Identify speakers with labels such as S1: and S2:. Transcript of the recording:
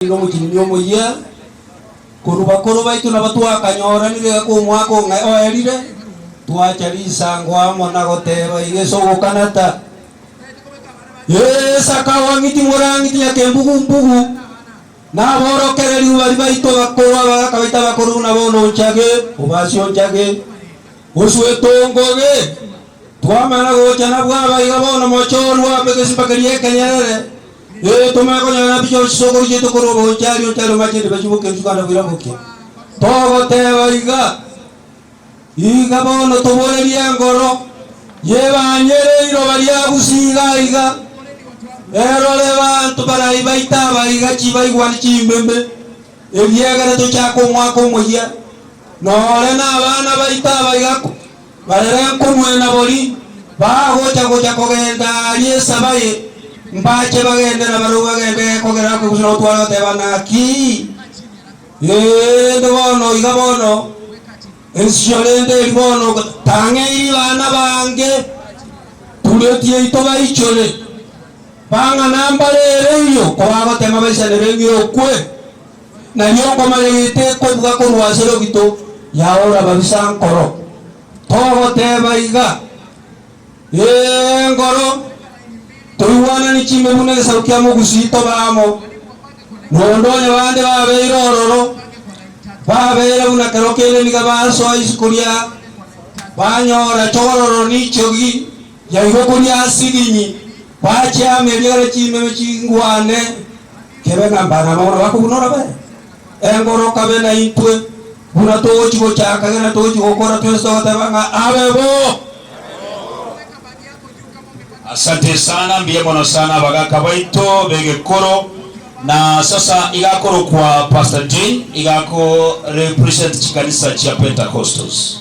S1: Nigo omochenu omoyia korwa bakoro baito nabo twakanyooranire egeka omwaka o ng'ai oerire, twacha risango amo na goteeba iga ase ogokanata, Ee, saka owang'iti morang'iti nyakembugu-mbugu, na aborokererio baria baito bakoro abagaka baito abakoro buna bono onchage, obasie onchage, osuete ongoge. Twamana gocha nabwo aba iga bono mochie orue abe egesimba keria ekenyerere, Ee, komekonyora nabi Joshua ase okoroisia etuko ri'obogocha, ario onchare omache inde bachie boke rituko ande boira boke. Togoteba iga, Iga bono toborerie engoro y'ebanyere riroba ri'agusia iga aiga, erore banto barai baite aba iga chibaigwa ne chimbembe, ebiegere tochake omwaka omoyia, nore nabana baito aba iga. Barere nkomwee nabori bagocha gocha kogenda aria esaba eye, mbache bagende nabarabwo bagende kogera ake gose nagotwara goteba naki, rende bono iga bono ensio rende eri bono tang'eiri bana bange tureti yaito baichore, bang'ana mbare ereiyo kobagotema baisanere ng'irokwe. Na nyokomanya gete kobuga korwa ase rogito yaora babisa nkoro, togoteba iga, Ee nkoro, toigwanani chimbe buna egesaku kia mogusii tobe amo, na onde onye bande babeire ororo, babeire buna kero kende niga basoa isiko ria banyora chogororo nichogi yaigwa koria asilinyi, bache amo erio egere chimeme chingwane. kebe ng'a mbare abamura ba kobuna orabere, engora okabe naintwe, buna togochia gochaka gena togochia gokora twensi togoteba ng'a abe bo.
S2: Asante sana, mbuya mono sana abagaka baito begekoro. Na sasa iga akorokwa Pastor Jane iga ako represent chikanisa chia Pentecostals.